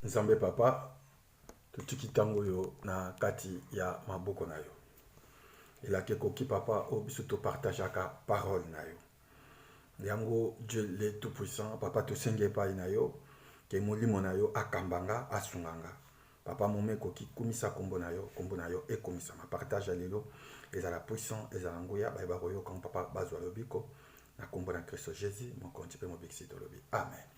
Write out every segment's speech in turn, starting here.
Nzambe Papa, totiki ntango oyo na kati ya maboko na yo. Elaka ekoki Papa oyo biso topartageaka parole na yo. Yango Dieu le tout puissant, Papa tosengi epai na yo ke molimo na yo akamba nga, asunga nga. Papa moma ekoki kumisa nkombo na yo, nkombo na yo ekumisama. Partage ya lelo ezala puissant, ezala nguya, baye bakoyoka Papa bazwa lobiko na nkombo na Kristo Jesus, mokonzi mpe mobikisi tolobi. Amen.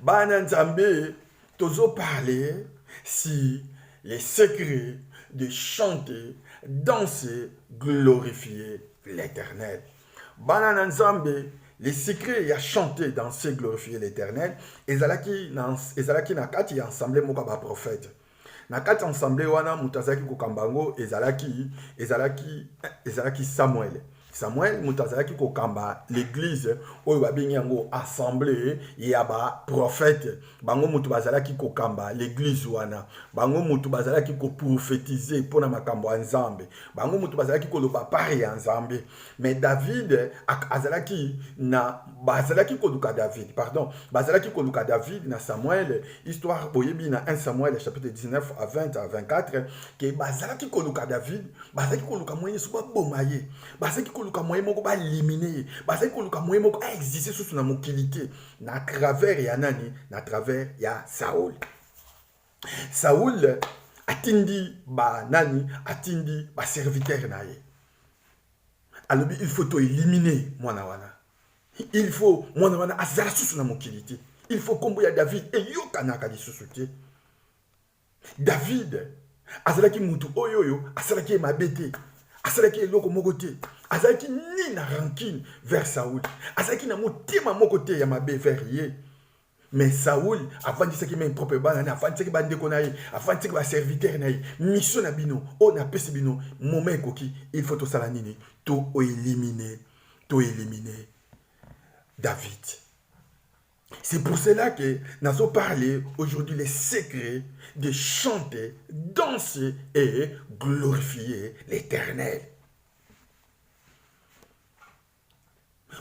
bana nzambe tozo parle si les secrets de chanter danser glorifier l'éternel bana na nzambe les secrets ya chanter danser glorifier l'éternel ezalaki na, ezalaki na kati ya ensemble moko ya baprofete Na kati ya ensemble wana moto azalaki kokamba yango ezalaki ezalaki ezalaki Samuel. Samuel moto azalaki kokamba l'église oyo babengi yango assemblée ya ba prophète. Bango moto bazalaki kokamba l'église wana. Bango moto bazalaki koprophétiser mpo na makambo ya Nzambe. Bango moto bazalaki koloba pari ya Nzambe. me david azalaki na bazalaki koluka david pardon bazalaki koluka david na samuel histoire boyebi na 1 samuel chapitre 19 à 20 à 24 ke bazalaki koluka david bazalaki koluka moyen so baboma ye bazalaki koluka moyen moko baelimine ye bazalaki koluka moyen moko aexiste susu na mokili te na travers ya nani na travers ya saul Saul atindi ba nani atindi ba serviteur na ye alobi il faut toelimine mwana wana il faut mwana wana azala susu na mokili te il faut nkombo ya david eyokanaka lisusu te david azalaki motu oyo oyo asalaki ye mabe te asalaki eloko moko te azalaki ni na rancune vers saul azalaki na motema moko te ya mabe vers ye Mais Saoul afandisaki même propre bana na afandisaki ba ndeko na ye, afandisaki ba serviteurs na ye. Mission na bino oyo na pesi bino moment ekoki, il faut tosala nini? To éliminer, to éliminer David. C'est pour cela que nazo parler aujourd'hui les secrets de chanter, danser et glorifier l'Éternel.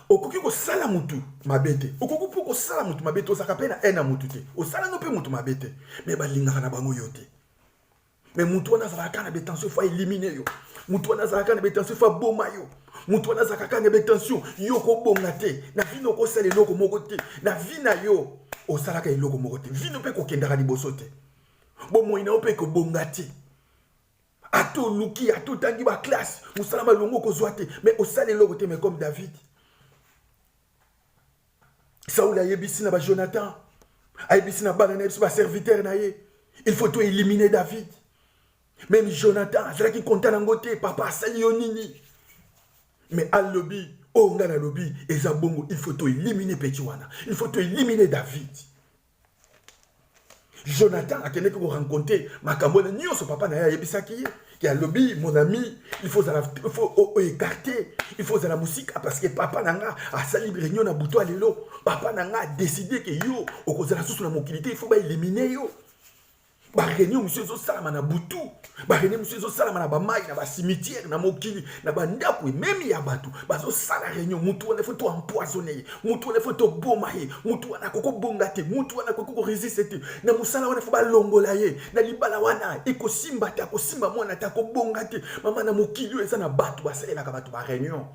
okoki kosala motu mabe te okoki mpe kosala motu mabe te ozalaka mpe na haine ya motu te osalano mpe motu mabe te me balingaka na bango yo te me motu wana azalaka kaka na betension fo elimine yo motu wana azalaka na betension fo aboma yo motu wana azalaka kaka na betension yo okobonga te na vino okosala eloko moko te na vi na yo osalaka eloko moko te vino mpe kokendaka liboso te bomoi na yo mpe ekobonga te ata oluki ata otangi baklasse mosala malongo okozwa te mais osala eloko te mais comme david saul ayebisi na bajonathan ayebisi na bana na ye biso baserviteur na ye il faut to éliminer david meme jonathan azalaki konta nango te papa asali yo nini mais alobi oyo oh, ngai nalobi eza bongo il faut to éliminer peti wana il faut to éliminer david Jonathan akendeki ko rencontrer makambo wana nyonso papa na ye ayebisaki ye ke alobi mon ami il faut ozala il faut oekarte il faut ozala mosika parce que papa na nga asali réunion na butu ya lelo papa na nga adeside ke yo okozala susu na mokili te il faut baelimine yo bareunion mosusu ezosalama na butu bareunion mosusu ezosalama na bamai na basimitiere na mokili na bandako ememi ya bato bazosala reunion motu wana efo toempoisone ye motu wana efo toboma ye motu wana akoki kobonga te motu wana akoki koresiste te na mosala wana efo balongola ye na libala wana ekosimba te akosimba mwana te akobonga te mama na mokili oyo eza na bato basalelaka bato bareunion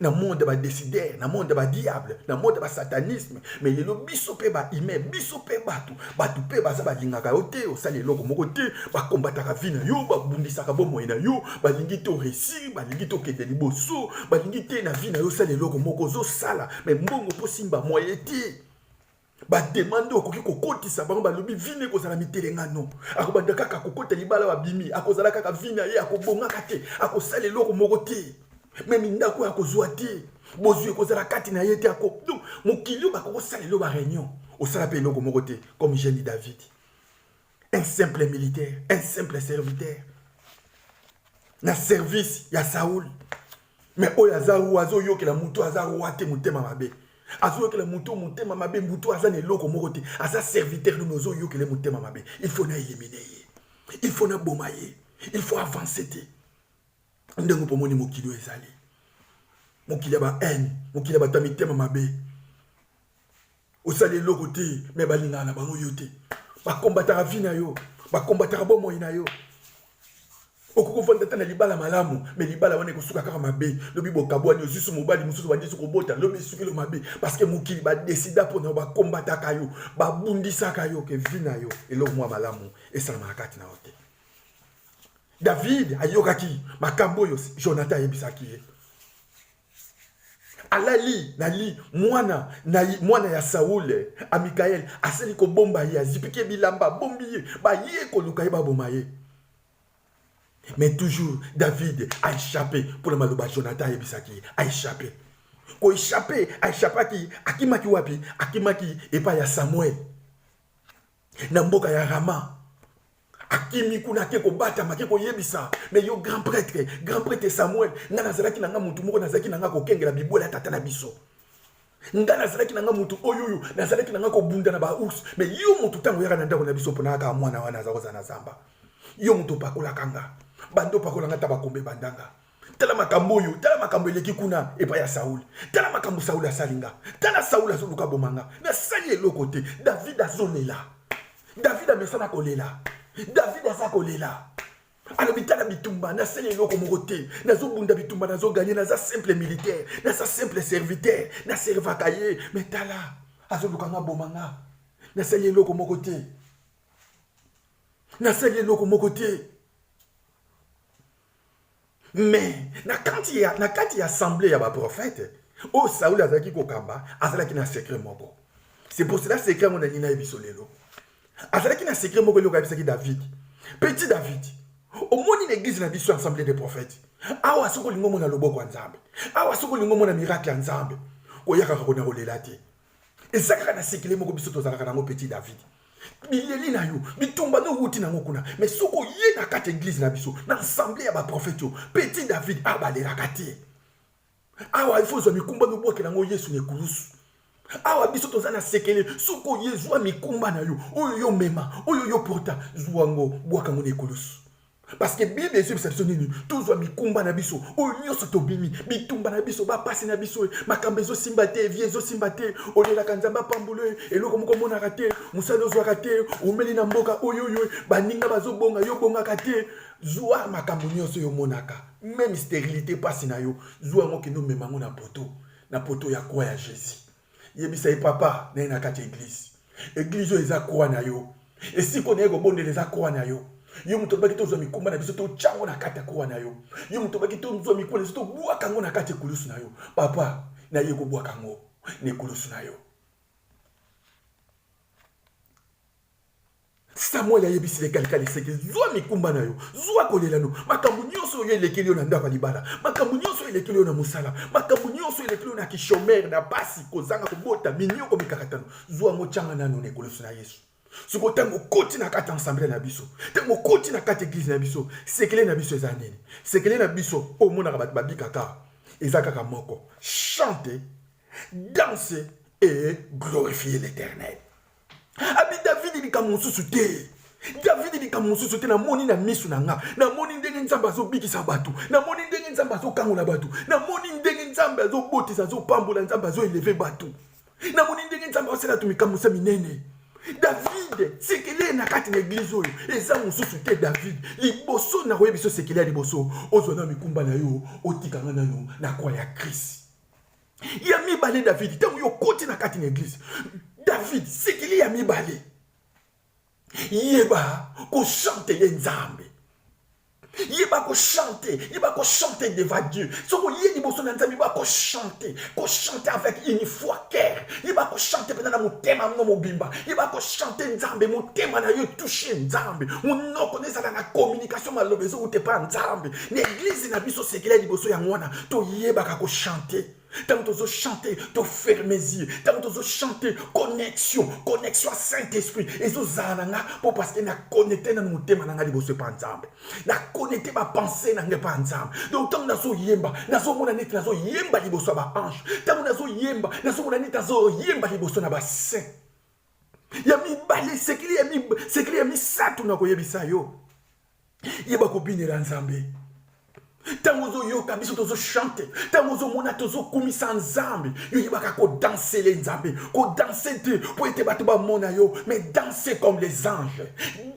na monde ya badesider na monde ya badiable na monde ya basatanisme me lelo biso mpe baime biso mpe bato bato mpe baza balingaka yo te osali eloko moko te bakombataka vi na yo babundisaka bomoi na yo balingi te oresi balingi te okende liboso balingi te na vi na yo osali eloko moko ozosala me mbongo mpo simba moye te bademande oyo akoki kokotisa bango balobi vino ekozala mitelengano akobanda kaka kokota libala babimi akozala kaka vino ye akobongaka te akosala eloko moko te me mindako oyo akozwa te bozwi ekozala kati na ye te ako donc mokili oyo bakokosala elo bareunion osala mpe eloko moko te comme jeune david un simple militaire un simple serviteur na service ya saul me oyo aza roi azoyokela motu aza roi te motema mabe azoyokela motu motema mabe motu aza na eloko moko te aza serviteur nomi ozoyokele motema mabe il faut na elimine ye il faut na boma ye il faut avance te ndenge mpo omoni mokili oyo ezali mokili ya ba haine mokili ya bato ya mitema mabe osali eloko te me balingaka na bango yo te bakombataka vi na yo bakombataka bomoi na yo okoki ofanda ata na libala malamu me libala wana ekosuka kaka mabe lobi bokabwani osusu mobali mosusu bandisi kobota lobi esukilo mabe parceke mokili badesida mpo na yo bakombataka yo babundisaka yo ke vi na yo eloko mwa malamu esalamaka kati na yo te david ayokaki makambo oyo jonathan ayebisaki ye alali nali mwana na mwana ya saule eh, amikaele asali kobomba ye azipiki ye bilamba abombi ye baye koluka ye baboma ye mais toujours david aechappe mpo na maloba jonathan ayebisaki ye aechappe koechappe aechapaki akimaki wapi akimaki epai ya samuel na mboka ya Rama akimi kuna ake kobatama ake koyebisa me yo grand prêtre grand prêtre samuel ngai nazalaki na ngai motu moko nazalaki na ngai kokengela bibwela ya tata na biso ngai nazalaki na ngai motu oyo oyo nazalaki na ngai kobunda na baours me yo motu ntango oyaka na ndako na biso mpona kaka mwana wana aza kozala na zamba yo motu opakolaka nga bando opakola nga ta bakombe bandanga tala makambo oyo tala makambo eleki kuna epai ya sauli tala makambo sauli asali nga tala sauli azoluka boma nga nasali eloko te david azolela david amesana kolela david aza kolela alobi tala bitumba nasali eloko moko te nazobunda bitumba nazoganye naza simple militaire naza simple serviteur naservaka ye me tala azoluka nga boma nga nasali eloko moko te nasali eloko moko te me na kati ya, na kati ya assemble ya baprofete oyo sauli azalaki kokamba azalaki na sekre moko c'est pour cela sekre yango nalingi nayebi biso lelo azalaki na sekre moko eloko ayebisaki david petit david omoni na eglize na biso assemble de prophète awa soki olingi omona loboko ya nzambe awa soki olingi omona miracle ya nzambe koyaka kakona kolela te eza kaka na sekele moko biso tozalaka nango petit david bileli na yo bitumba nde owuti nango kuna me soki oye na kati ya eglize na biso na ensemble ya baprofete oyo petit david abalelaka te awa ifo ozwa mikumba nobwakela yango yesu na ekulusu awa biso toza na sekele soki oye zwa mikumba na yo oyo yo mema oyo yo porta zwa yango bwaka yango na ekulusu parce que bible ezobisa biso nini tozwa mikumba na biso oyo nyonso tobimi bitumba na biso bapasi na biso makambo ezosimba te vie ezosimba te olelaka nzambe apambole eloko moko omonaka te mosali ozwaka te omeli na mboka oyoyo baninga bazobonga yo obongaka te zwa makambo nyonso oyo omonaka meme sterilité mpasi na yo zwa yango kende omema yango na poto na poto ya kwa ya jésus yebisa ye papa na ye na kati ya eglize eglize oyo eza koa na yo esiko na ye kobondela eza koa na yo yo moto obaki tozwa mikumba na biso totya yango na kati ya koa na yo yo moto obaki tozwa mikumba na biso tobwaka yango na kati ya ekulusu na yo papa na ye kobwaka yango na ekulusu na yo Samuel ayebisi ye kalikali seke zwa mikumba na yo zwa kolela no makambo nyonso oyo elekeli yo na ndako ya libala makambo nyonso oyo elekeli yo na mosala makambo nyonso elekeli yo na kishomere na basi kozanga kobota minyoko mikakatano zwa yango tyanga nano na ekoloso na yesu soko ntango okoti na kati ya ensemble na biso ntango okoti na kati eglize na biso sekele na biso eza nini sekele na biso omonaka bato babikaka eza kaka moko chante danse et glorifie l'éternel abi davidi likambo mosusu te davidi likambo mosusu te namoni na miso na nga namoni ndenge nzambe azobikisa bato namoni ndenge nzambe azokangola bato namoni ndenge nzambe azobotisa azopambola nzambe azoeleve bato namoni ndenge nzambe asala to mikamusa minene david sekele na kati na eglize oyo eza mosusu te david liboso na koyebi biso sekele ya liboso ozwa na mikumba na yo otika nga nano na kwa ya krist ya mibale davidi ntango yo okoti na kati na eglize davidi sikili ya mibale yeba kosantele nzambe yeba kochante yeba kochante devant dieu soki oye liboso na nzambe yeba kochante kochante avec une foi cœur yeba kochante mpenza na motema mno mobimba yeba kochante nzambe motema na yo touche nzambe monoko na ezala na communication maloba ezouta epa nzambe na eglize na biso sekele ya liboso yango wana toyebaka kochante ntango tozochante toferme zie ntango tozochante connexion connexion ya saint esprit ezozala na nga mpo parceke na connecte nano motema na nga liboso epa nzambe na connecte bapense na nga epa nzambe donc ntango nazoyemba nazomona neti nazoyemba liboso ya baange ntango nazoyemba nazomona neti nazoyemba liboso na basaint ya mibale sekele ya, mib... sekele ya misato nakoyebisa yo yeba kobinela nzambe ntango ozoyoka biso tozochante ntango ozomona tozokumisa nzambe yo yebaka kodansele nzambe kodanse te mpo ete bato bamona yo mais danse comme les anges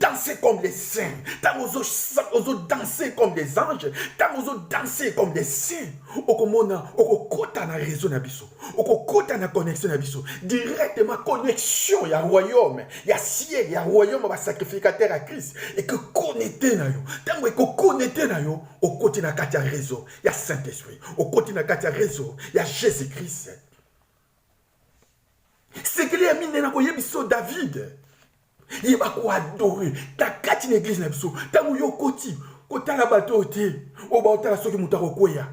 danse comme les saints ntango ozodanse comme les anges ntango ozodanse comme les saints okomona okokota na réseau na biso okokota na connexion na biso directement connexion ya royaume ya ciel ya royaume ya basacrificateur ya christ ekokonnete na yo ntango ekokonnete na yo okoti na kati ya réseau ya saint esprit okoti na kati ya réseau ya jésus christ sekele ya minene akoyebisa yo david ye bakoadore na kati na eglize na biso ntango yo okoti kotala bato oyo te oyo baotala soki moto akokweya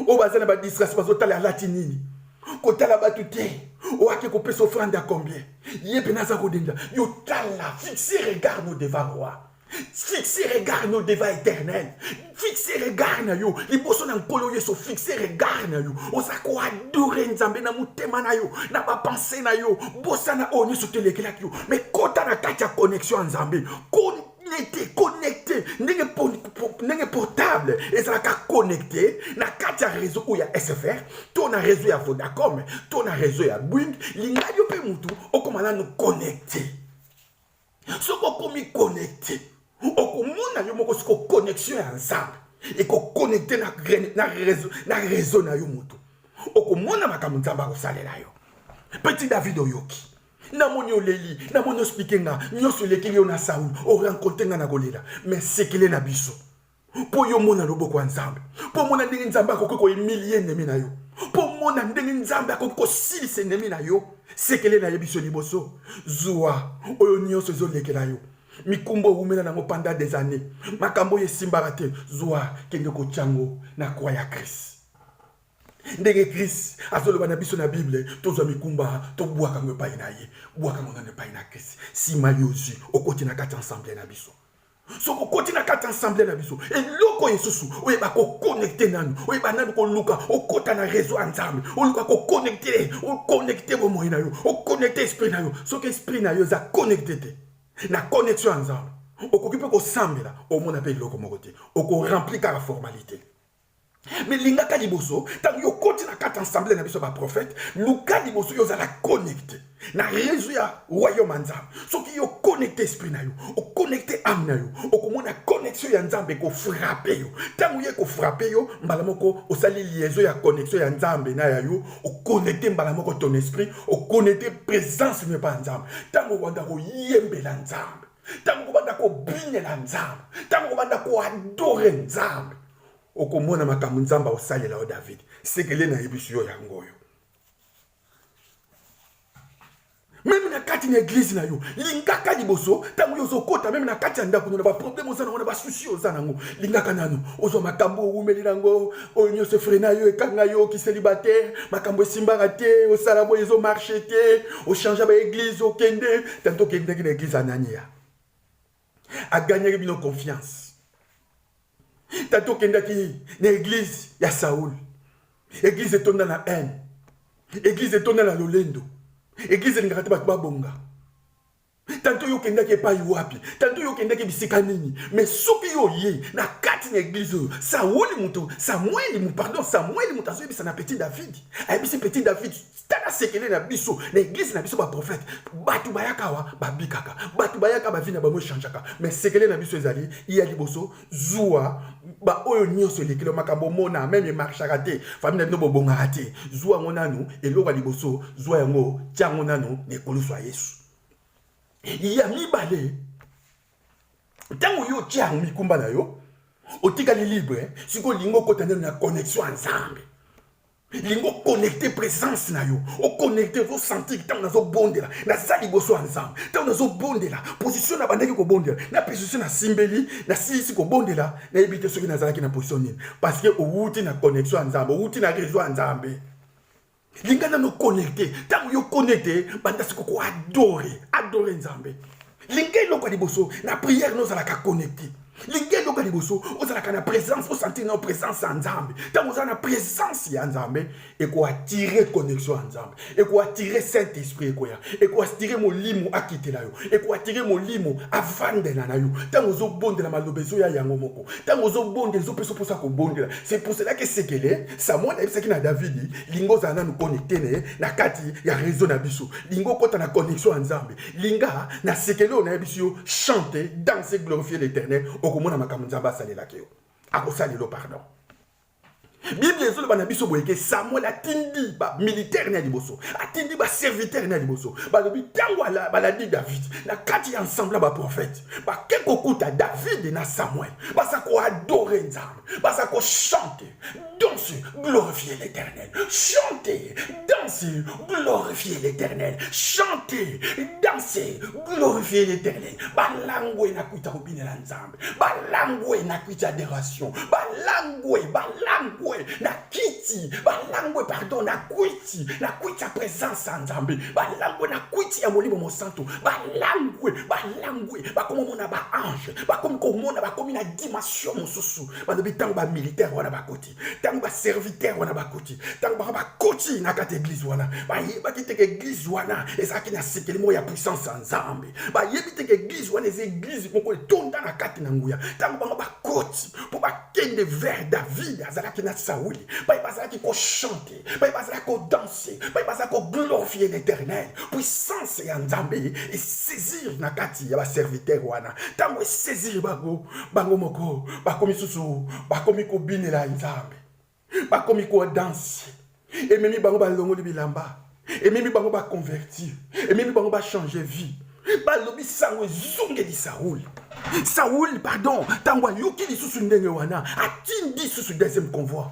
oyo baza na badistrasi bazotala alati nini kotala bato te oyo ake kopesa ofrande ya combien ye mpena aza kodenda yo tala fixe regard no devant roi fixe regard na yo devant éternel fixe regard na yo liboso na nkolo yesu fixe regard na yo oza koadore nzambe na motema na yo na bapense na yo bosana oyo nyonso telekelaki yo me kota na kati ya connexion ya nzambe connecte connecte ndenge ndenge portable ezalaka connecte na kati ya réseau oyo ya sfr to na réseau ya vodacom to na réseau ya bwing lingai yo mpe motu okoma nano connecte soki okomi connecte okomona yo moko siko connexion ya nzambe ekoconnecte na, na, rezo, na rezo na yo motu okomona makambo nzambe akosalela yo petit david oyoki namoni oleli namoni ospike nga nyonso elekeli yo na saul orencontre nga na kolela me sekele na biso mpo yo omona loboko ya nzambe mpo omona ndenge nzambe akoki koemilie enemi na yo mpo omona ndenge nzambe akoki kosilisa enemi na yo sekele na ye biso liboso zuwa oyo nyonso ezolekela yo mikumba owumela nango panda des années makambo oyo esimbaka te zuwa kende kotya yango na kwa ya krist ndenge krist azoloba na biso na bible tozwa mikumba tobwaka yango epai na ye bwaka yango nano epai na krist nsima yo ozwi okoti na kati ya ensemble na biso soki okoti na kati ya ensemble na biso eloko esusu oyeba kokonekte nanu oyeba nanu koluka okota na réseau ya nzambe oluka kokonekte okonekte bomoi na yo okonekte esprit na yo soki esprit na yo eza konekte te na connexion ya nzambe okoki mpe kosambela omona mpe eloko moko te okorempli kaka formalite me lingaka liboso ntango yo okoti na kati ensemble na biso ya baprofete luka liboso yo ozala connecte na réseau ya royaume ya nzambe soki yo connecte esprit na yo oconnecte ame na yo okomona connexion ya nzambe ekofrape yo ntango ye ekofrape yo mbala moko osali liaison ya connexion ya nzambe na ya yo oconnecte mbala moko ton esprit oconnecte présence mio epa ya nzambe ntango owanda koyembela nzambe ntango okobanda kobinela nzambe ntango okobanda koadore nzambe okomona makambo nzambe akosalela yo davidi sekele nayebisi yo yango oyo meme na kati na eglize na yo lingaka liboso ntango yo ozokota meme na kati ya ndako no na baproblème oza nango na basusi oza nango lingaka nano ozwa makambo owumeli nango oyo nyonso efrena yo ekanga yo okiseli bate makambo esimbaka te osala boye ezomarche te ochangea baeglize okende tanto okendaki na eglize anania aganyaki bino confiance tanto okendaki na eglize ya saul eglize etonda na haine eglize etonda na lolendo eglize elingaka te bato babonga tanto yo okendaki epai wapi tanto yo okendaki bisika nini me soki yo oyei na kati na eglize oyo sauli moto samueli mo pardon samueli moto azoyebisa na petit david ayebisi petit david tala sekele na biso na eglize na biso baprofete bato bayaka awa babikaka bato bayaka bavi na bango echangeaka me sekele na biso ezali ya liboso zuwa baoyo nyonso elekelo makambo omona meme emarchaka te fami na bino bobongaka te zuwa yango nanu eloko ya liboso zuwa yango tya yango nanu na ekulusu ya yesu ya mibale ntango yo otya yango mikumba na yo otikali libre sikoyo olingi okota nano na connexion ya nzambe lingi oconnecte présence na yo oconnecte ozosentir ntango nazobondela naza liboso ya nzambe ntango nazobondela position nabandaki kobondela na position nasimbeli nasilisi kobondela nayebi te soki nazalaki na position nini parce que owuti na connexion ya nzambe owuti na réseau ya nzambe linga nano connecte ntango yo connecte banda siko koadore adore nzambe linga eloko ya liboso na priere nozalaka connecte linga eloko ya liboso ozalaka na présence osentir na présence ya nzambe ntango oza na présence ya nzambe ekoatire connexion ya nzambe ekoatire saint esprit ekoya ekoatire molimo akitela yo ekoatire molimo avandela na yo ntango ozobondela maloba ezoya yango moko ntango ozobondela ezopesa mposa kobondela se poselaki sekele samuel ayebisaki na davidi linga ozala nanu connecte na ye na kati ya réseau na biso linga okota na connexion ya nzambe linga na sekele oyo nayebisi yo chante danse glorifie l'éternel okomona makambo nzambe asalelaki yo akosalelo pardon biblia ezoloba na biso boyeke samuel atindi bamilitaire na ya liboso atindi baservitere na ya liboso balobi ntango balandi david na kati ya ensemble ya baprofete bake kokuta david na samuel baza koadore nzambe baza kochante Danse, glorifier l'Éternel. Chantez, dansez, glorifier l'Éternel. Chantez, dansez, glorifier l'Éternel. Balangwe na kuita obine la nzambe. Balangwe na kuita adoration. Balangwe, balangwe na kiti. Balangwe, pardon, na kuiti. Na kuita présence en nzambe. Balangwe na kuiti ya molimo mosanto. Balangwe, balangwe. Bakomo mona ba ange. Bakomi komona, bakomi na dimension mosusu. balobi ntango bamilitaire wana bakoti ntango baserviteur wana bakoti ntango baka bakoti na kati ya eglize wana bayebaki teke eglize wana ezalaki na sekeli moko ya puissance ya nzambe bayebi teke eglize wana eza eglize moko etonda na kati na nguya ntango bango bakoti mpo bakende vers david azalaki na sauli baye bazalaki kochante baye bazala kodanse baye baza koglorifie l'éternel puissance ya nzambe esaisir na kati ya baserviteur wana ntango esaisir bango bango moko bakomi susu bakomi kobinela nzambe bakomi kodanse ememi bango balongoli bilamba ememi bango baconvertir ememi bango bachange vie balobi sango ezongeli saul saul pardon ntango ayoki lisusu ndenge wana atindi lisusu deuxième convoi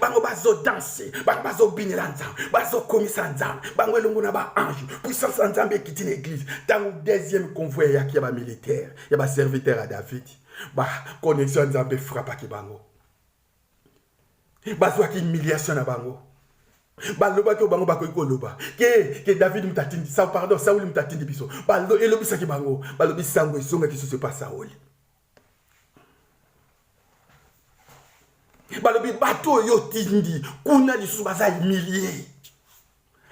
bango bazodanse bango bazobinela nzambe bazokumisa nzambe bango elongo na baange puissance ya nzambe ekiti na eglize ntango deuxième convoi eyaki ya bamilitaire ya baserviteur ya david baconnexion ya nzambe efrapaki bango bazwaki humiliation na bango balobaki oyo bango bakoki koloba ke ke david moto atindi pardon sauli moto atindi biso elobisaki bango balobi sango ezongaki susu epa sauli balobi bato oyo otindi kuna lisusu baza humilie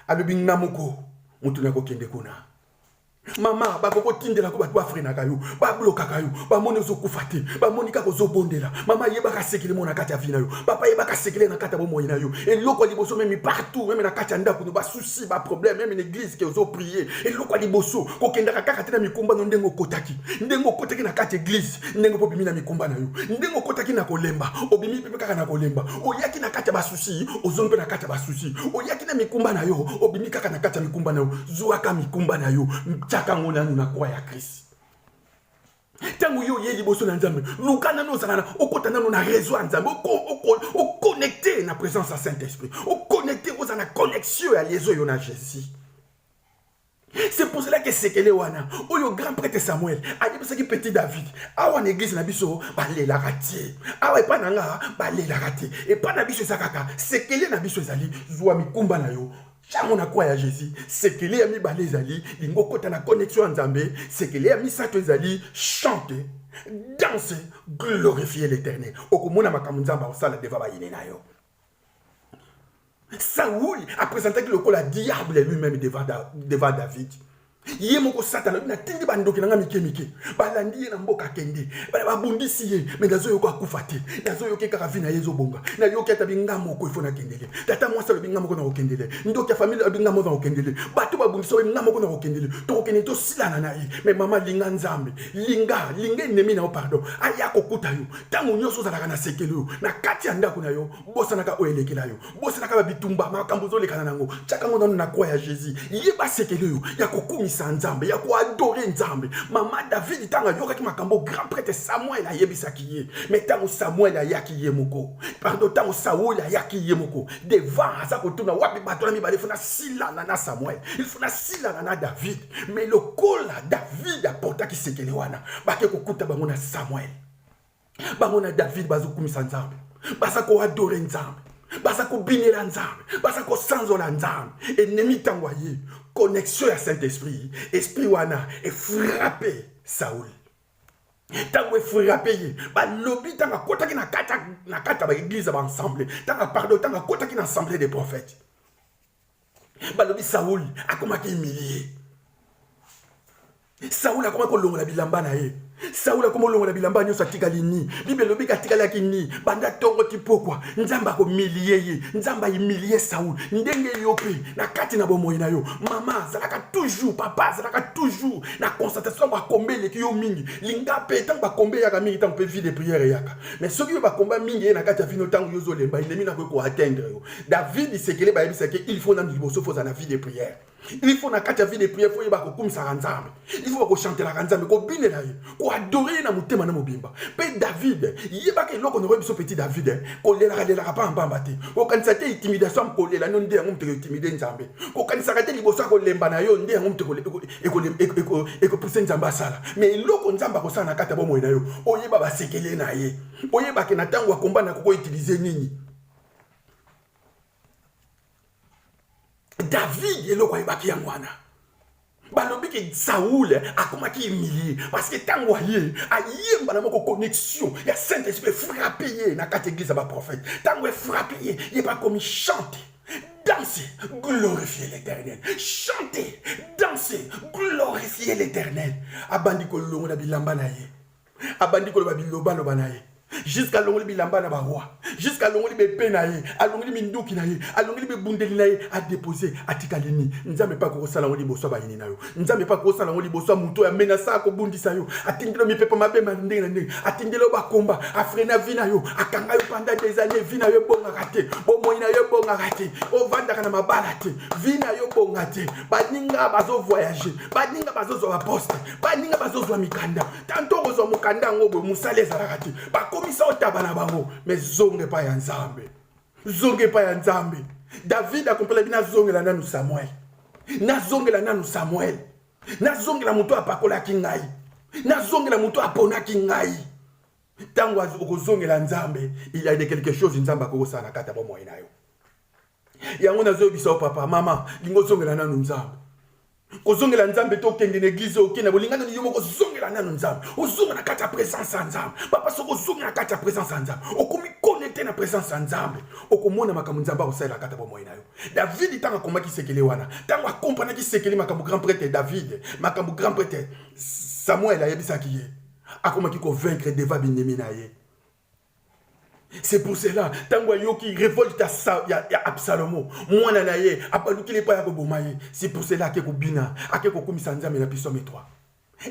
alobi nga moko motu nakokende kuna mama bakoki otindelako bato bafrenaka yo bablokaka yo bamoni ozokufa te bamoni kaka ozobondela mama yebaka sekele mona kati ya vi na yo papa yebaka sekele na kati ya bomoi na yo eloko ya liboso memi partout meme na kati ya ndako no basusi si ba problème même une église que ozo prier eloko ya liboso kokendaka kaka te na mikumba no ndenge okotaki ndenge okotaki na kati église ndenge mpo obimi na mikumba na yo ndenge okotaki na kolemba obimi mpe kaka na kolemba oyaki na kati ya basusi ozongi mpe na kati ya basusi oyaki na mikumba na yo obimi kaka na kati ya mikumba na yo zwaka mikumba na yo tyaka yango nanu na kwa ya krist ntango yo oye liboso na nzambe luka nano ozala na okota nano na réseau ya nzambe oconnecte na présence ya saint esprit oconnecte ozala na connexion ya lieso yo na jésus c'est pour cela que sekele wana oyo grand prêtre samuel ayebisaki petit david awa na église na biso balelaka te awa epai na nga balelaka te epai na biso eza kaka sekele na biso ezali zwa mikumba na yo Ntango na kwa ya Jésus, sekele ya mibale ezali lingo kota na connexion ya Nzambe, sekele ya misato ezali chante, danse, glorifier l'Éternel. Okomona makambo Nzambe akosala deva bayini na yo. Saoul apresentaki lokola diable lui-même devant, devant David. ye moko satana alobi natindi bandoki na ngai mike mike balandi ye na mboka akende babundisi ye me nazoyoka akufa te nazoyoki kaka vi na ye ezobonga nayoki ata binga moko ifo nakendele tata mwasi alobi nga moko nakokendele ndoki ya famile alobi nga moko nakokendele bato babundisi oyo nga moko nakokendele tokokende tosilana na ye me mama linga nzambe linga linga enemi na yo pardon aya kokuta yo ntango nyonso ozalaka na sekele oyo na kati ya ndako na yo bosanaka oyo elekela yo bosanaka ba bitumba makambo ozolekana nango tyaka yango nano na kwa ya jésus yeba sekele oyo ya kokumisa nzambe ya koadore nzambe mama david ntango ayokaki makambo grand prêtre samuel ayebisaki ye me ntango samuel ayaki ye moko pardo ntango saul ayaki ye moko devant aza kotuna wapi bato na mibale fona silana na samuel ilfona silana na david me lokola david apotaki sekele wana bake kokuta bango na samuel bango na david bazokumisa nzambe baza koadore nzambe baza kobinela nzambe baza kosanzola nzambe enemi ntango aye connexion ya saint esprit esprit wana efrape saul ntango efrape ye balobi ntango akotaki na kati ya baeglize ya baensemble ntango pardon ntango akotaki na assemble de prophète balobi saul akomaki humilie saul akomaki kolongola bilamba na ye saul akomi olongola bilamba nyonso atikali ni bible elobiki atikalaki ni banda ntongo ti pokwa nzambe akomilie ye nzambe aimilie saul ndenge yo mpe na kati na bomoi na yo mama azalaka toujours papa azalaka toujours na constatation ntango bakombe eleki yo mingi linga mpe ntango bakombe eyaka mingi ntango mpe vie de prière eyaka mais soki yo bakomba mingi ye na kati ya vino ntango yo ozolemba endemi nakoki koatteindre yo david sekele bayebisaki il faut nanu liboso fo ozala na vie de prière il faut na kati ya vie de prière fo yeba kokumisaka nzambe il faut bakochantelaka nzambe kobinela ye koadore ye na motema na mobimba mpe david yebaka eloko na biso petit david eh, kolelaka lelaka mpambamba te kokanisa te intimidation ya kolela no nde yango moto ekotimide nzambe kokanisaka te liboso ya kolemba na yo nde yango moto ekopuse nzambe asala me eloko nzambe akosala na kati ya bomoi na yo oyeba basekele na ye oyebake na ntango ya komba na kokoutilize nini david eloko ayebaki yango wana balobi ke saul akomaki humilie parce que ntango aye aye mbala moko connexion ya saint esprit frappe ye na kati eglise ya baprofete ntango efrappe ye ye bakomi chante danse glorifie l'éternel chante danse glorifie l'éternel abandi kolongola bilamba na ye abandi koloba bilobaloba na ye jusqu'à alongoli bilamba na baroi jusqu'à alongoli bepe na ye alongoli minduki na ye alongoli bibundeli na ye adepose atikali nini nzambe mpe akokosala yango liboso ya bayini na yo nzambe mpe akokosala yango liboso ya moto oyo amenasa akobundisa yo atindeli yo mipepo mabe ma ndenge na ndenge atindeli yo bakomba afrena vi na yo akanga yo panda des années vi na yo ebongaka te bomoi na yo ebongaka te ovandaka na mabala te vi na yo ebonga te baninga bazovoyage baninga bazozwa baposte baninga bazozwa mikanda tanto okozwa mokanda yango boye mosala ezalaka te bakomisa otaba na bango me zonga epai ya nzambe zonga epai ya nzambe david akompelaki nazongela nanu samuel nazongela nanu samuel nazongela moto apakolaki ngai nazongela moto aponaki ngai ntango okozongela nzambe il y a de quelque chose nzambe akokosala na kati ya bomoi na yo yango nazoyebisa yo papa mama lingo ozongela nanu nzambe kozongela nzambe te okende na eglize okende na bolinga nani yo moko ozongela nanu nzambe ozonga na kati ya presence ya nzambe papa soki ozongi na kati ya presence ya nzambe okomi konekte na presence ya nzambe okomona makambo nzambe akosalela kati ya bomoi na yo david ntango akomaki sekele wana ntango akompanaki sekele makambo grand prêtre david makambo grand prêtre samuel ayebisaki ye akomaki kovaincre deva binemi na ye c'est pour cela ntango ayoki revolte ya, ya, ya absalomo mwana na ye abalukeli epai ya koboma ye c'est pour cela ake kobina ake kokumisa nzambe na pisome 3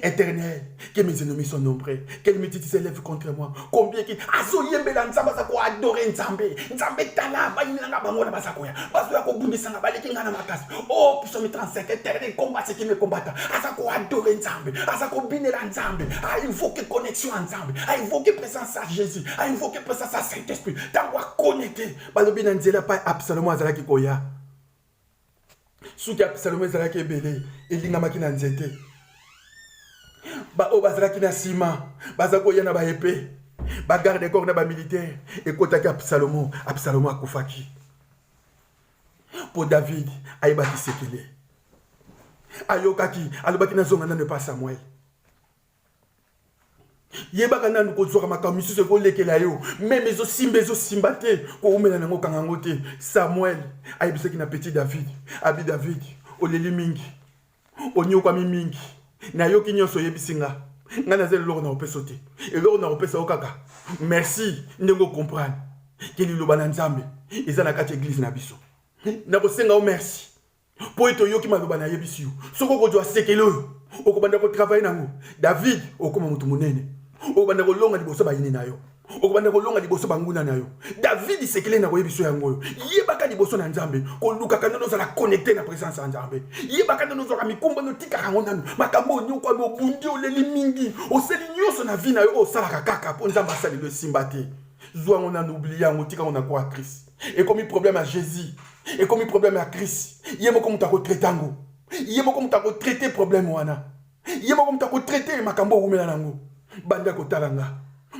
éternel que mes ennemis sont nombreux que mititi s'élève contre moi combien ki azoyembela nzambe aza koadore nzambe nzambe tala bayini na nga bango wana baza koya bazoya kobundisa nga baleki nga na makasi o oh, pisome 35 éternel combat ce qui me combata aza koadore nzambe aza kobinela nzambe ainvoke ah, connexion ya nzambe a invoqué présence sa jésus a invoqué présence sa saint esprit ntango aconnecte balobi na nzela epai absalomo azalaki koya suki absalomo ezalaki ebele elingamaki na nzete baoyo bazalaki na nsima baza koya na baepe bagarde corps na bamilitaire ekotaki absalomo absalomo akufaki mpo david ayebaki sekele ayokaki alobaki nazonga nano epa samuel yebaka nanu kozwaka makambo misusu ekolekela yo meme ezosimba ezosimba te koumela nango okanga yango te samuel ayebisaki na petit david abi david oleli mingi onyokwami mingi nayoki nyonso oyebisi nga ngai naza eloko na kopesa te eloko na kopesa yo kaka merci ndenge okomprendre ke liloba na nzambe eza na kati ya eglize na biso nakosenga yo merci mpo ete oyoki maloba nayebisi yo soki okozwa sekele oyo okobanda kotravaye nango david okoma moto monene okobanda kolonga liboso bayini na yo okobanda kolonga liboso banguna na yo david sekele na koyebi biso yango oyo yebaka liboso na nzambe kolukaka nano ozala connecte na présence ya nzambe yebaka nano ozwaka mikumba notikaka yango nano makambo oyo nyokwami obundi oleli mingi osali nyonso na vi na yo oyo osalaka kaka mpo nzambe asaleli esimba te zwa yango nano oblia yango tika yango na kwa krist ekomi problème ya jésus ekomi problème ya crise ye moko moto akotraite yango ye moko moto akotraite problème wana ye moko moto akotraite makambo owumela na yango bande ya kotala nga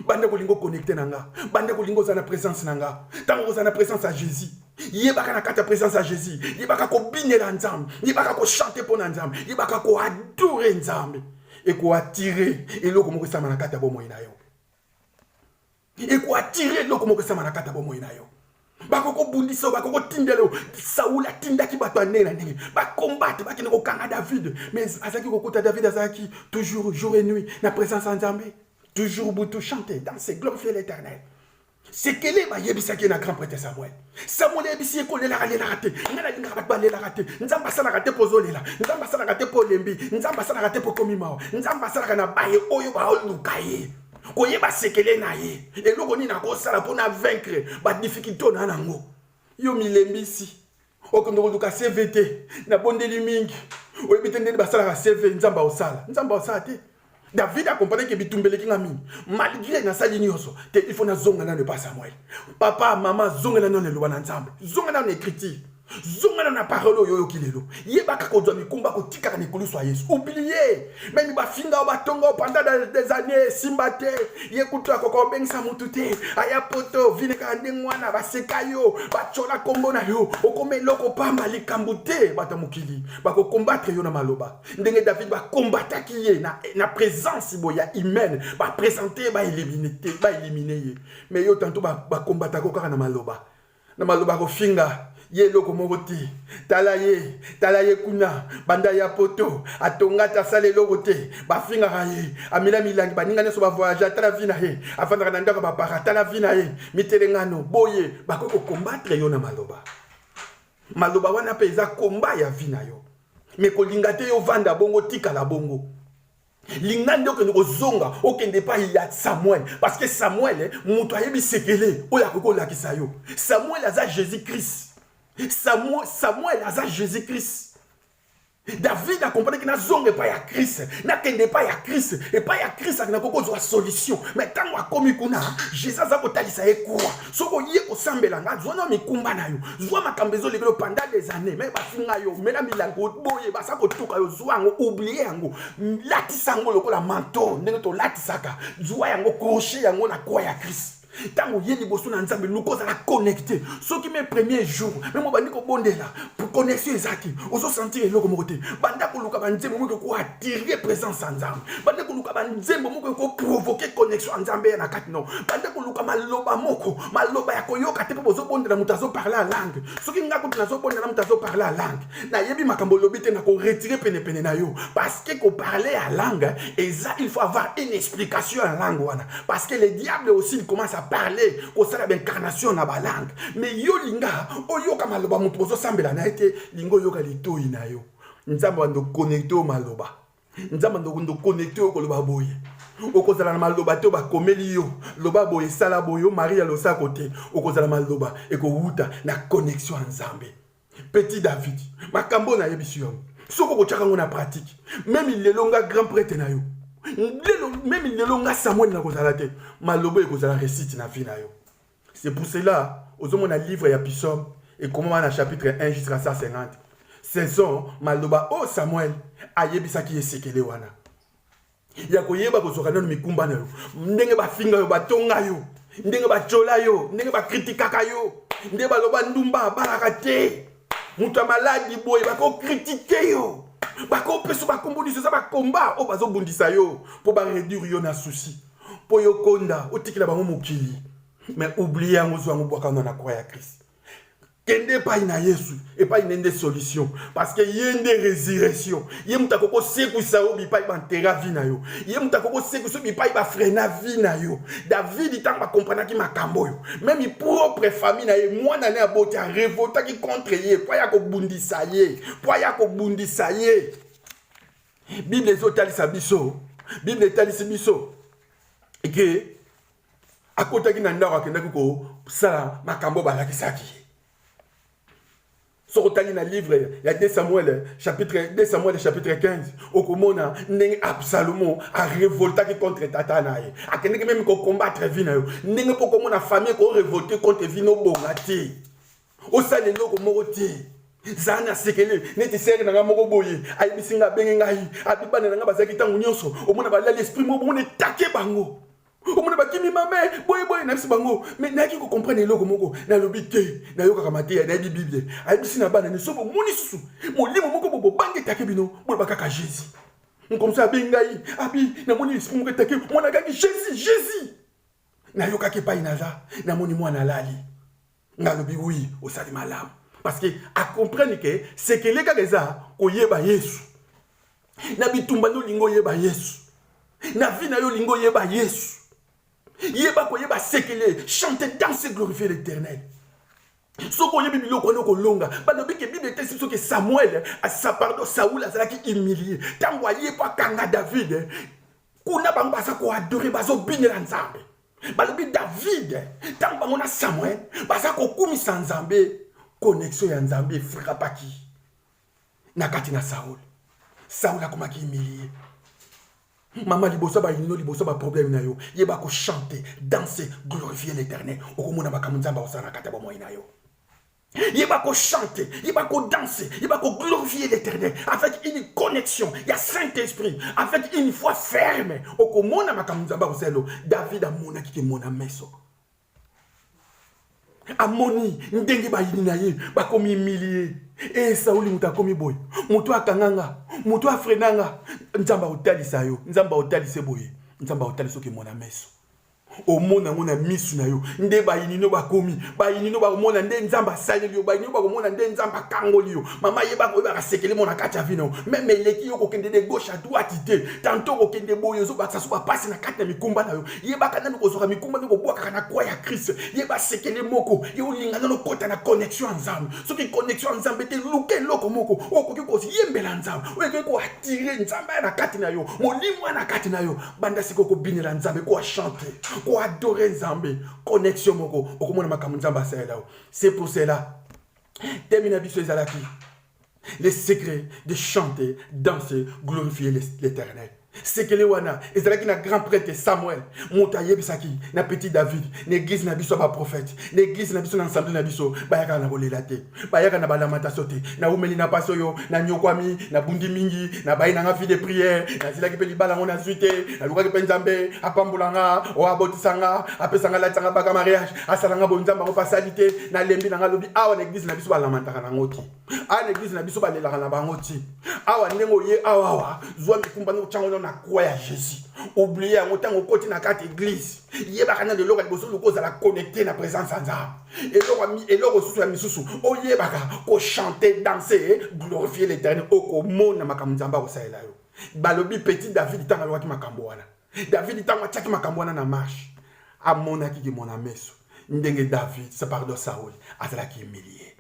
bande kolinga okonnecte na nga bande kolinga oza na présence na nga ntango oza na présence ya jésus yebaka na kati ya présence ya jésus yebaka kobinela nzambe yebaka kochante mpo na nzambe yebaka koadore nzambe ekoatire eloko moko esalama na kati ya bomoi na yo ekoatire eloko moko esama na kati ya bomoi na yo bakokobundisa yo bakokotindela yo saul atindaki bato ya ndenge na ndenge bakombate bakende kokanga david mais azalaki kokuta david azalaki toujours jour et nuit na présence ya nzambe toujours butu chante danse glorifie l'éternel sekele bayebisaki ye na grand prêtre samuel samuel ayebisi ye kolelaka lelaka te ngai nalingaka bato balelaka te nzambe asalaka te mpo ozolela nzambe asalaka te mpo olembi nzambe asalaka te mpo okomi mawa nzambe asalaka na baye oyo baoluka ye koyeba sekele na ye eloko nini akosala mpo na vaincre badifficulté oyo na yango yo milembisi okende koluka cv te nabondeli mingi oyebi te ndeni basalaka cv nzambe aosala nzambe aosala te David a compris que bitumbele kinga mingi malgré na sali nyoso te il faut na zonga na ne pas Samuel papa maman zonga na none loba na nzambe zonga na écriture zonga na parole oyo oyoki lelo yebaka kozwa mikumba kotikaka mikolo swa yesu oublie meme bafinga o batonga o panda des années esimba te ye kutu akoka obengisa motu te aya poto vine kaka ndenge wana baseka yo batyola nkombo na yo okoma eloko pamba likambo te bato ya mokili bakokombatre yo na maloba ndenge david bakombataki ye na, na présence boye ya humaine bapresente ye baelimine te baelimine ye mais yo tanto bakombataka ba kaka na maloba na maloba kofinga ye eloko moko te tala ye tala ye kuna banda ya poto atonga te asala eloko te bafingaka ye amela milangi baninga nyonso bavoyage atala vi na ye afandaka na ndako bapaka atala vi na ye mitelengano boye bakoki kokombatre yo na maloba maloba wana mpe eza komba ya vi na yo me kolinga te yo vanda bongo tikala bongo linga nde okende kozonga okende epai ya samuel parce que samuel eh, moto ayebi sekele oyo akoki kolakisa yo samuel aza jésus christ samuel, samuel aza jésus christ david akomprenaki nazonga epai ya krist nakende epai ya krist epai ya krist nakoki kozwa solution mai ntango akomi kuna jésus aza kotalisa ye kura soki oye kosambela nga zwa na mikumba na yo zwa makambo ezoleka yo panda des années me bafinga yo mela milango boye basa kotuka yo zwa yango oublie yango latisa yango lokola manto ndenge tolatisaka zwa yango kroche yango na kwa ya krist ntango oye liboso na nzambe luka ozala connecte soki me premier jour meme obandi kobondela connexion eza te ozosentir eloko moko te banda koluka banzembo moke kuat Tirvie présence ya nzambe bande koluka banzembo moko ekoprovoke connexion ya nzambe ya na kati no bande koluka maloba moko maloba ya koyoka te mpo bozobondela moto azoparle ya langue soki ngai kutu nazobondela moto azoparle ya langue nayebi makambo olobi te nakoretire penepene na yo parce que koparle ya langue eza il faut avoir une explication ya langue wana parce que le diable aussi il commence à parler kosala baincarnation na balangue mais yo linga oyoka maloba moto bozosambela na ye te linga oyoka litoi na yo nzambe bando connecte oyo maloba nzambe bando connecte oyo koloba boye okozala na maloba te bakomeli yo loba boye sala boye maria losako te okozala maloba ekowuta na connexion ya nzambe petit david makambo oyo nayebisi yo soki okotyaka yango na pratike meme lelo nga grand prete na yo lelo meme lelo nga samuel nakozala te maloba ekozala resite na vie na yo C'est pour cela, ozomona livre ya Psaume ekomama na chapitre 1 jusqu'à 150. Ce sont maloba oyo Samuel ayebisaki ye sekele wana ya koyeba kozwaka nano mikumba na yo, ndenge bafinga yo, batonga yo, ndenge batyola yo, ndenge bakritikaka yo, ndenge baloba ndumba abalaka te, moto ya maladi boye bakokritike yo, bakopesa bakombo nyonso eza bakomba oyo bazobundisa yo mpo baredire yo na susi. mpo yo okonda otikela bango mokili me oublie yango ozwa yango bwaka wana na kwa ya krist kende epai na yesu epai nde nde solution parce que ye nde résurrection ye moto akoki kosekwisa yo bipai bantera vi na yo ye moto akoki kosekwisa yo bipai bafrena vi na yo davidi ntango bakompranaki makambo oyo meme propre famille na ye mwana ne aboti arevoltaki contre ye mpo aya kobundisa ye mpo aya kobundisa ye bible ezotalisa biso bible etalisi biso eke akotaki na ndako akendaki kosala makambo balakisaki ye soki otali na livre ya 2 samuel chapitre 2 samuel chapitre 15 okomona ndenge absalomo arevoltaki contre tata na ye akendeki meme kokombatre vi na yo ndenge mpo okomona famille ekorevolte contre vi nobonga te osala eloko moko te zala na sekele neti sere na ngai moko boye ayebisi ngai abenge ngai abibana na ngai bazalaki ntango nyonso omona balali esprit moko bomona etake bango omona bakimi mame boyeboye nayebisi bango me nayaki kocomprendre eloko moko nalobi te nayokaka mateya nayebi biblia ayebisi na bana nyonso bomoni susu molimo moko bobobangi etake bino boloba kaka jésus nkomso abengi ngai abi namoni esprit moko etake mwana akangi jésus jésus nayokaki epai naza namoni mwana alali nga lobi oui osali malamu parce que a comprendre que sekele kaka eza koyeba yesu na bitumba nde olingi oyeba yesu na vie na yo olingi oyeba yesu yeba koyeba sekele chante danse glorifie l'éternel soki oyebi biloko wana okolonga balobi ke bible etesi biso ke samuel asa pardon saul azalaki humilie ntango aye mpo akanga david kuna bango baza koadore bazobinela nzambe balobi david ntango bango na samuel baza kokumisa nzambe connexion ya nzambe efrapaki na kati na saul saul akomaki humilie mama liboso bayinino liboso baproblème na yo yeba kochante danse glorifie l'éternel okomona makambo nzambe akosala na kati ya bomoi na yo Il va chanter, il va danser, il va glorifier l'éternel avec une connexion. Il y a Saint-Esprit, avec une foi ferme. Au Komona Makamuzaba Ozelo, David a mona qui est mon ameso. Amoni, ndenge ba yinaye, ba komi humilié. Et Saouli muta komi boy. Muto akanganga, muto afrenanga. Nzamba otali sayo, nzamba otali seboye, nzamba otali soki mon ameso. omona yango na misu na yo nde bayini no bakomi bayini no bakomona nde nzambe asaleli yo bayini no bakomona nde nzambe akangoli yo mama yeba koyebaka sekele mona kati ya vino meme eleki yo kokende de gauche à droite te tanto kokende boye ozobakisa so bapasi na kati na mikumba na yo yebaka nanu kozwaka mikumba mpe kobwakaka na kwa ya krist yeba sekele moko ye olinga nano kota na connexion ya nzambe soki connexion ya nzambe te luka eloko moko okoki koyembela nzambe oyo ekoki koatire nzambe aya na kati na yo molimo aya na kati na yo banda sikoyo kobinela nzambe koachante koadore nzambe connexion moko okomona makambo nzambe asalela yo c'est pour cela temi na biso ezalaki le secret de chanter danser glorifier l'éternel sekele wana ezalaki na grand prêtre samuel moto ayebisaki na petit david na eglize na biso ya baprofete na eglize na biso na ensemble na biso bayakaka na kolela te bayaka na balamataso te naumeli na mpasi oyo nanyokwami nabundi mingi nabayi na nga vie de priere nazilaki mpe libala yango nazwi te nalukaki mpe nzambe apambola nga oyo abotisa nga apesa nga latisa nga baka mariage asala nga boye nzambe yango mpe asali te nalembi na nga lobi awa na eglize na biso balamataka nango te awa na eglize na biso balelaka na bango te awa ndenge oye awawa zwa mikumba nde otyango na kwa ya jésus oblie yango ntango okoti na kati eglize yebaka na lelo ka liboso luka ozala connecte na présence ya nzambe eloko susu ya misusu oyebaka kochante danse glorifie l'éternel okomona makambo nzambe akosalela yo balobi petit david ntango alobaki makambo wana david ntango atyaki makambo wana na marche amonaki kimona meso ndenge david pardon saul azalaki humilie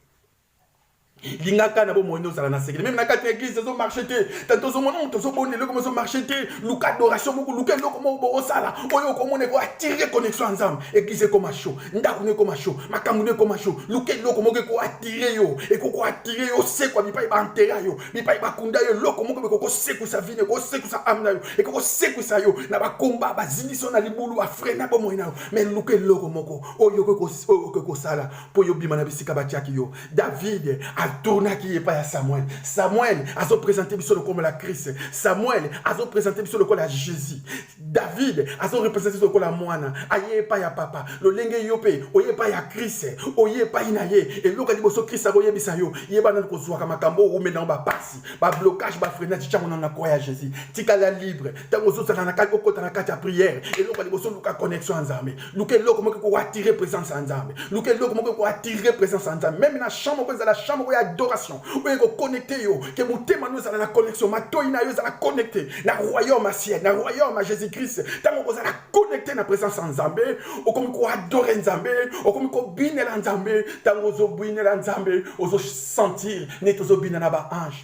lingaka na bomoi nde ozala na sekele meme na kati ya eglise ezo marche te tante ozomona moto ozobonda eloko mo ezo marche te luka adoration moko luka eloko moko bokosala oyo okomona eko attire connexion ya nzambe eglise ekoma sho ndako no ekoma sho makambo no ekoma sho luka eloko moko eko attire yo ekoko attire yo osekwa bipai baantera yo bipai bakunda yo eloko moko bekokosekwisa vine ekokosekwisa ame na yo ekokosekwisa yo na bakomba bazindisi yo na libulu afrena bomoi na yo me luka eloko moko oyo okoki kosala mpo yo bima na bisika batiaki yo davide aturnaki ye epai ya samuel samuel azopresente biso lokomo la krist samuel azopresente biso lokola ya jésus davide azorepresente biso lokola mwana aye epai ya papa lolenge yo mpe oye epai ya krist oye epai na ye eloka liboso krist akoyebisa yo yebana kozwaka makambo owumeli nango bapasi bablocage bafrenage ntango nano na kwa ya jésus tikala libre ntango ozozala na kati okota na kati ya priere eloko ya liboso luka connexion ya nzambe luka eloko moko ekoatire présence ya nzambe luka eloko moko ekoatire présence ya nzambe meme na champ moko ezala champ moko ya adoration oyo ekoconnecte yo ke motema no ezala na connexion matoi na yo ezala connecte na royaume ya ciel na royaume ya jésus christ ntango okozala connecte na présence ya nzambe okomi koadore nzambe okomi kobinela nzambe ntango ozobinela nzambe ozosentir neti ozobina na baange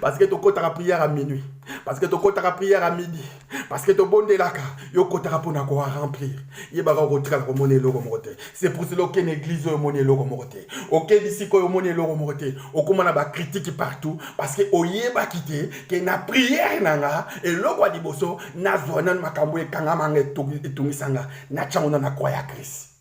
parce que tokotaka prière à minuit parce que tokotaka prière à midi parce que tobondelaka yo okotaka mpo na koa remplir yebaka okotikala komona eloko moko te c'est pour cela okende église oyo omoni eloko moko te okende sika oyo omoni eloko moko te okóma na bacritique partout parce que oyebaki te ke na prière na nga eloko ya liboso nazwa nano makambo ekangama nga etungisa nga natyango na na kwa ya krist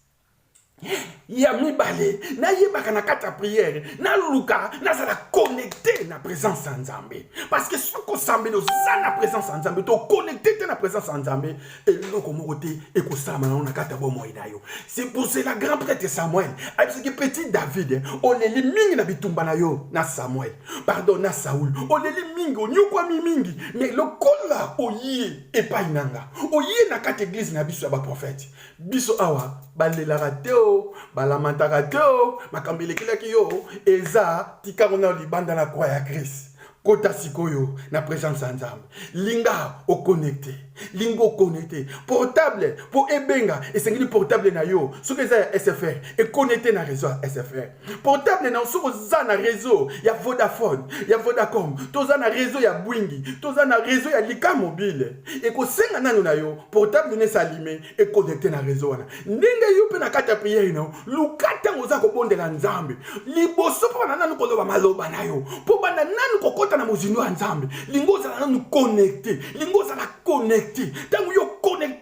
ya mibale nayebaka na kati ya priere naluka nazala connecte na présence ya nzambe parce que soki osambeli oza na présence ya nzambe to connecte te na présence ya nzambe eloko moko te ekosalama nango na kati ya bomoi na yo c'est pour cela grand prêtre samuel ayebisaki petit david oleli mingi na bitumba na yo na samuel pardon na saul oleli mingi onyokwami mingi mais lokola oye epai na nga oye na kati eglise na biso ya baprofete biso awa balelaka te o balamantaka te o makambo elekelaki yo eza tikango na libanda na kwa ya krist kota sikoyo na presence ya nzambe linga oconnecte linga oconnecte portable mpo ebenga esengeli portable na yo soki eza ya sfr econnecte na réseau ya sfr portable na soki oza na réseau ya vodafone ya vodacom toza na réseau ya bwingi toza na réseau ya lika mobile ekosenga nano na yo portable na esalime ekonekte na réseau wana ndenge yo mpe na kati ya priere na yo luka ntango oza kobondela nzambe liboso mpo bana nano koloba maloba na yo mpo banda nano kokɔta na mozindo ya nzambe lingo ozala nano connecte lingo ozala connecte ntango yo connecte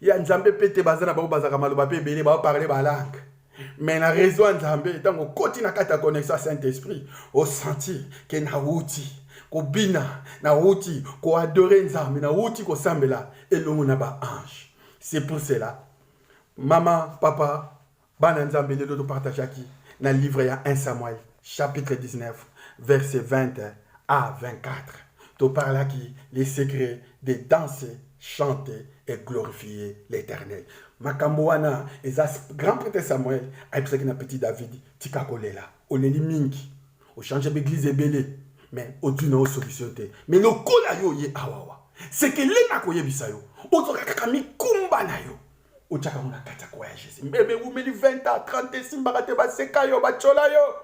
ya nzambe mpe te baza na bango bazalaka maloba mpe ebele baoparle balangue me na réseau ya nzambe ntango okoti na kati ya connexion ya saint esprit osentir ke nauti kobina nauti koadore nzambe nauti kosambela elongo na baange c'est pour cela mama papa Bana Nzambe lelo to partageaki na livre ya 1 Samuel chapitre 19 verset 20 à 24. To parlaki les secrets de danser, chanter et glorifier l'Éternel. Makambo wana eza grand prêtre Samuel ayebisaki na petit David tika kolela oleli mingi ochange baeglise ebele mais ozwi na yo solution te mais lokola yo oye awawa sekeleni akoyebisa yo ozwaka kaka mikumba na yo otyaka yango na kati ya koyagese mbebe ewumeli 20 a 30 esimbaka te baseka yo batyola yo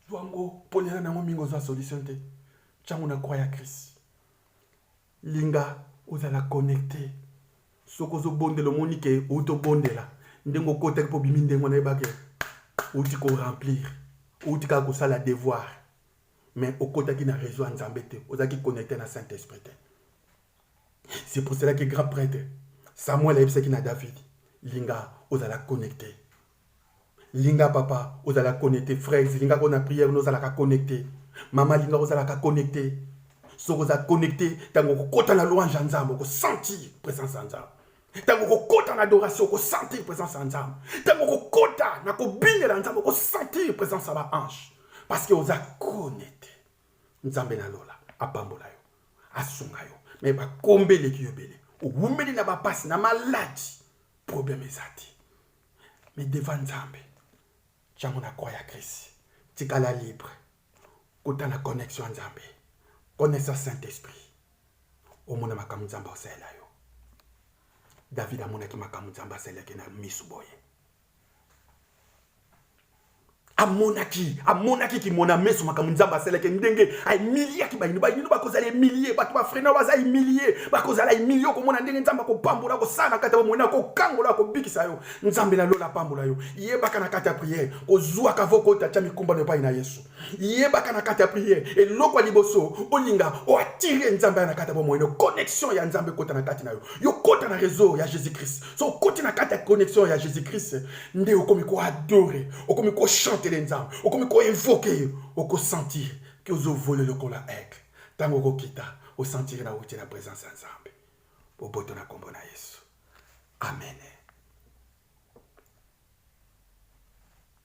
zwango ponela na yango mingi ozwa solution te tyango na kwa ya krisi linga ozala connecte soki ozobondela omoni ke outi obondela ndenge okotaki mpo obimi ndenge wana yebake outi koremplir outi kaka kosala devoir mais okotaki na réseau ya nzambe te ozalaki connecte na saint esprit te c'est pour cela que grand prêtre samuel ayebisaki na david linga ozala connecte linga papa ozala connecte frère linga ko na prière nozalaka connecte mama linga ozalaka connecte soki oza connecte ntango okokota na louange ya nzambe okosentir présence ya nzambe ntango okokota na adoration okosentir présence ya nzambe ntango okokota na kobingela nzambe okosentir présence ya baange parce que oza connecte nzambe na lola apambola yo asunga yo me bakombe eleki yo ebele owumeli na bapasi na maladi probleme eza te me devant nzambe ntango na kwa ya krisi tikala libre kota na connexion ya nzambe connaissance saint esprit omona makambo nzambe akosalela yo david amonaki makambo nzambe asalelaki na misu boye amonaki amonaki kimona meso makambo nzambe asalaki ndenge aemiliaki bayino bayino bakozala emilie bato bafrena baza emilie bakozala emilie okomona ndenge nzambe akopambola kosala kati ya bomoi akokangola akobikisa yo nzambe na lola apambola yo yebaka na kati ya priere kozwaka vokota tya mikumbano epai na yesu yebaka na kati ya priere eloko ya liboso olinga oatire nzambe aya na kati ya bomoi no connexion ya nzambe ekota na kati na yo yo kota na réseau ya jésus christ so okoti na kati ya connexion ya jésus christ nde okomi koadore okomi kochantele nzambe okomi koinvoke ye okosentire ke ozovole lokola aigle ntango okokita osentire na wuti na présence ya nzambe boboto na nkombo na yesu amen